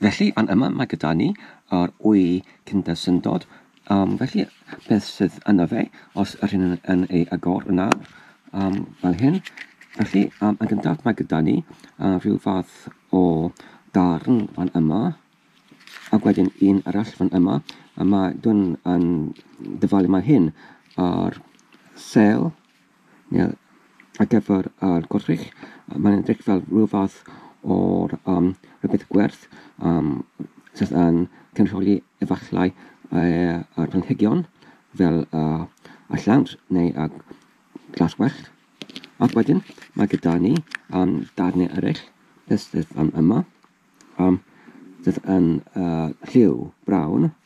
Felly, fan yma mae gyda ni yr wy cyndersyndod. Um, felly, beth sydd yna fe, os yr hyn yn, yn ei agor yn nawr, um, fel hyn. Felly, um, yn gyntaf mae gyda ni uh, rhyw fath o darn fan yma, ac wedyn un arall fan yma, a mae dwn yn dyfalu mae hyn ar sel Ie, ar gyfer yr gwrthrych, yy mae'n edrych fel rhyw fath o'r yym rhywbeth gwerth yym sydd yn cynrychioli efallai yy yr planhigion fel yy y llawnt neu y glas gwellt. Ac wedyn mae gyda ni yym darnau eryll sydd yym yma yym sydd yn yy lliw brown.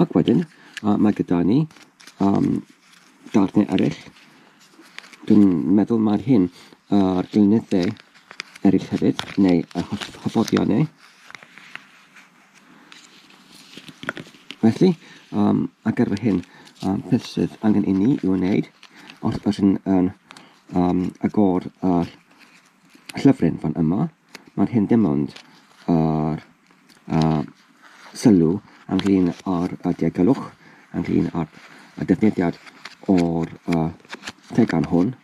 Ac wedyn, uh, mae gyda ni um, darnau eraill. Dwi'n meddwl mae'r hyn a'r uh, glynyddau eraill hefyd, neu y hyfforddion neu. Felly, um, a ar fy hyn, um, beth sydd angen i ni i'w wneud os ydyn yn um, agor yr llyfryn fan yma, Mae'r hyn dim ond yr sylw ynglŷn â'r diogelwch, ynglŷn â'r defnyddiad o'r tegan hwn.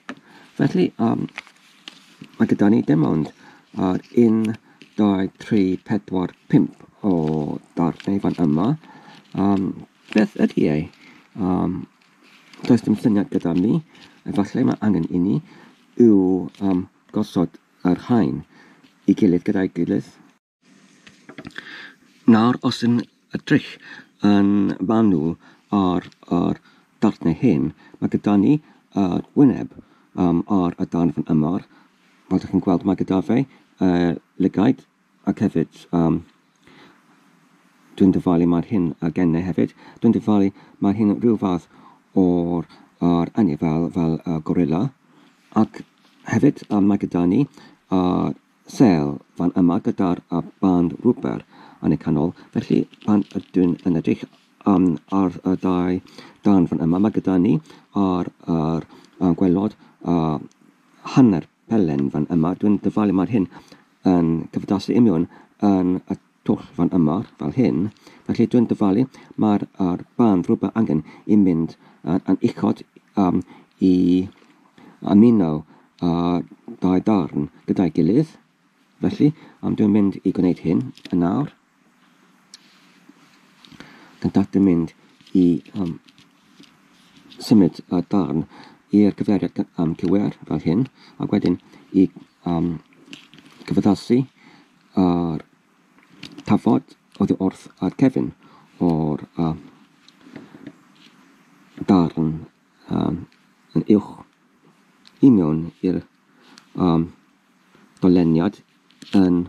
Felly, mae gyda ni dim ond yr 1, 2, 3, 4, 5 o ddarnau fan yma. Beth ydy e? Does dim syniad gyda mi. Efallai mae angen i ni yw gosod a'r rhain i gilydd gyda'i gilydd. Nawr os yn edrych yn fanwl ar yr darnau hyn, mae gyda ni yr wyneb um, ar y darn fan yma, fel dych chi'n gweld mae gyda fe uh, lygaid, Ac hefyd, um, dwi'n dyfalu mae'r hyn a gennau hefyd. Dwi'n dyfalu mae'r hyn rhyw fath o'r ar anni fel, fel uh, gorilla. Ac hefyd um, mae gyda ni uh, sel fan yma gyda'r uh, band rwber yn y canol. Felly pan ydyn yn edrych um, ar y dau dan fan yma, mae gyda ni ar, ar, ar gwelod uh, hanner Helen, Fan yma, dwi'n dyfalu mae'r hyn yn cyfdasu i miwn yn y twll fan yma, fel hyn. Felly dwi'n dyfalu mae'r ar band rhywbeth angen i mynd yn, yn uchod um, i ymuno a dau darn gyda'i gilydd. Felly, um, dwi'n mynd i gwneud hyn yn nawr. Yn data mynd i um, symud y darn i'r cyfeiriad um, cywir fel hyn, ac wedyn i um, cyfaddasu yr tafod oddi wrth ar cefn o'r uh, darn um, yn uwch i mewn i'r um, doleniad yn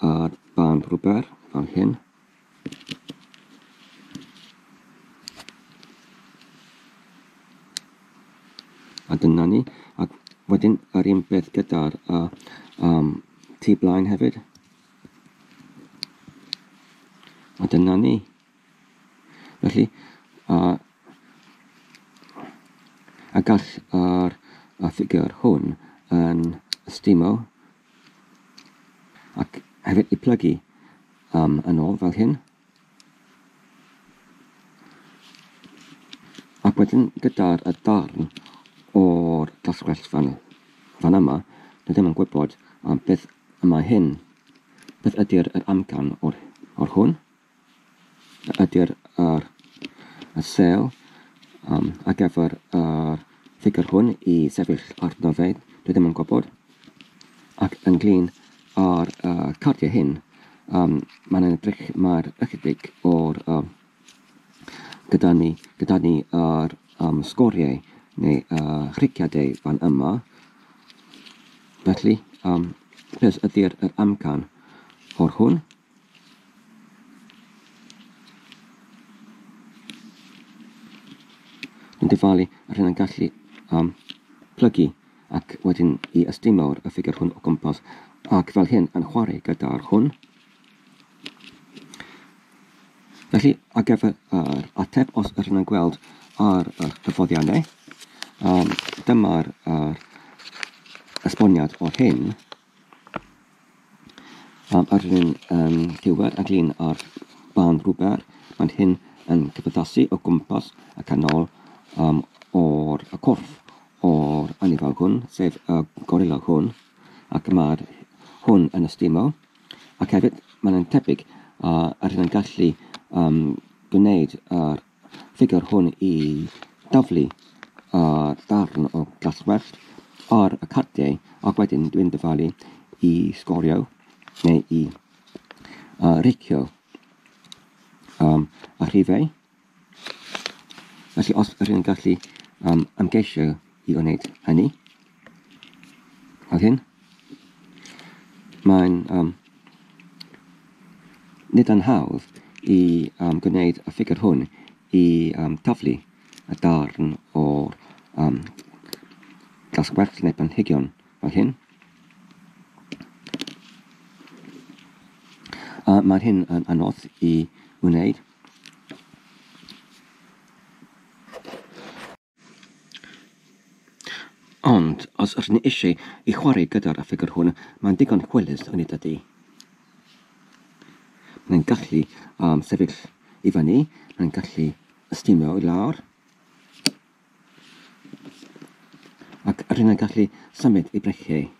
ar band rwber fel hyn. A dyna ni. A wedyn yr un beth gyda'r uh, um, tu blaen hefyd. A dyna ni. Felly, a, a gall yr y ffigur hwn yn ystimo ac hefyd i plygu um, yn ôl fel hyn. Ac wedyn gyda'r y darn o'r glaswellt fan, fan yma, dwi ddim yn gwybod um, beth y mae hyn. Beth ydy'r yr amcan o'r, o'r hwn? ydy'r yr y sêl um, ar gyfer yr ffigur hwn i sefyll arno fe, dwi ddim yn gwybod. Ac ynglyn â'r uh, cardiau hyn, um, mae'n edrych mae'r ychydig o'r um, gyda ni, gyda ni yr um, sgoriau neu uh, rhiciadau fan yma. Felly, um, beth ydy'r yr amcan o'r hwn? yn dyfalu ar hyn yn gallu um, plygu ac wedyn i ystymawr y ffigur hwn o gwmpas ac fel hyn yn chwarae gyda'r hwn. Felly, ar gyfer yr ateb, os yr hyn yn gweld ar y cyffoddiannau, um, dyma'r uh, esboniad o'r hyn. Am yr un um, ddiwedd ag un o'r bân rhwber, mae'n hyn yn cymdeithasu o gwmpas y canol um, o'r y corff o'r anifail hwn, sef y gorilla hwn, ac mae'r hwn yn ystumo, ac hefyd mae'n tebyg uh, yr hyn yn gallu um, gwneud yr ffigwr hwn i daflu y darn o gastell ar y cardiau ac wedyn dwi'n dyfalu i sgorio neu i uh, reicio um, a rhifau. Felly os rydyn ni'n gallu um, ymgeisio i wneud hynny, Ar hyn, mae'n um, nid yn hawdd i um, gwneud y ffigur hwn i um, taflu y darn o'r um, gasgwerth neu planhigion fel hyn. A mae hyn yn anodd i wneud. Ond os ydyn ni eisiau i chwarae gyda'r ffigwr hwn, mae'n ddigon hwylus yn ei dydy. Mae'n gallu um, sefyll i fyny, mae'n gallu ystumio i lawr, ac rydyn ni'n gallu symud i breciau.